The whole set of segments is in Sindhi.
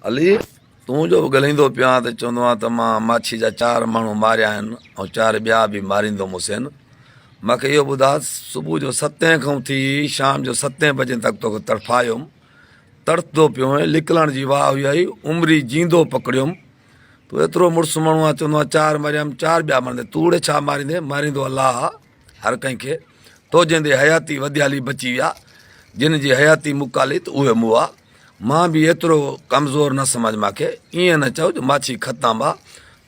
علي، تون جو به ڳلهيندو پيو آن ته چوندو آن ته مان ماڇي جا چار ماڻهو ماريا آهن ۽ چار ٻيا به ماريندومسين. مان کي اهو ٻڌاء ته صبح جو ستين کان ٿي شام جو ستين بجين تڪ توکي تڙڦايم، تڙڦدو پيو هئين، لڪلڻ جي واء هئي آهي، عمري جيندو پڪڙيم. تون ايترو مڙس ماڻهو آن چوندو آن چار ماريا آهن چار ٻيا ماريندين، توڙي ڇا ماريندين، ماريندو الله آ. هر ڪنهن کي تو جيندي حياتي وديالي بچي ويا جن جي حياتي مڪالي ته اهي مئا مان به ايترو ڪمزور نه سمجهه ماکي ايئن نه چئو جو ماڇي کتان با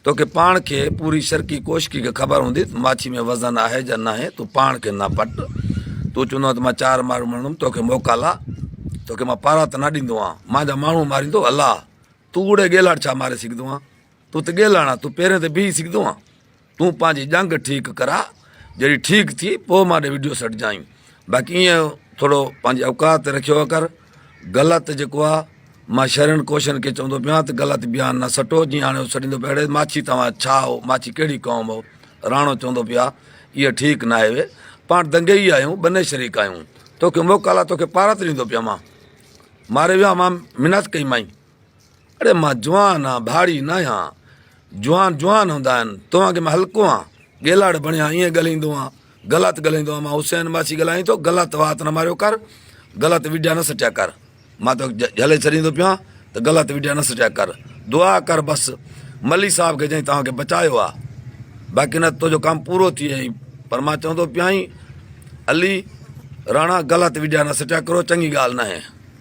توکي پاڻ کي پوري شرقي ڪوشڪي کي خبر هوندي ته ماڇي ۾ وزن آهي جا ناهي تون پاڻ کي نه پٽ تون چوندو آهي ته مان چار ماڻهو مڙندم توکي موڪالا توکي مان پارا ته نه ڏيندو آهيان مان جا ماڻهو ماريندو الله تون اڙي ڳيلاڙ ڇا ماري سگهندو آهي تون ته ڳيلاڻ آهي تون پيرين تي بيهي سگهندو آهي تون پنهنجي ڄنگهه ٺيڪ ڪراء، جڏهن ٺيڪ ٿي پوء مان ڏي وڊيو سيٽ جائين، باقي ايئن ٿورو پنهنجي اوقات تي رکيو ڪر، غلط جيڪو آ مان شھرين ڪوشين کي چوندو پيان ته غلط بيان نه سٽو، جيئن هاڻي هو سڏيندو پيو اڙي ماڇي توهان ڇا هئو، ماڇي ڪهڙي قوم هئو، راڻو چوندو پيو آ ايئن ٺيڪ ناهي وي پاڻ دنگيئي آهيون ٻنهي شريڪ آهيون، توکي موڪل آ توکي پارت ڏيندو پيان مان ماري ويان مان منت ڪئي مانء. اڙي مان جوان آن ڀاڙي ناهيان جوان جوان هوندا آهن توهان کي مان هلڪو آن گيلاڙ بڻيا ائين ڳالهيندو آن غلط ڳالهيندو آن مان حسين ماسي ڳالهائين ٿو غلط وات نه ماريو ڪر غلط وڊيا نه سٽيا ڪر مان تو جهلي ڇڏيندو پيو آن ته غلط وڊيا نه سٽيا ڪر دعا ڪر بس ملي صاحب کي جنهن توهان کي بچايو آ باقي نه تو جو ڪم پورو ٿي ويئي پر مان چوندو پيائين علي راڻا غلط وڊيا نه سٽيا ڪرو چڱي ڳالهه ناهي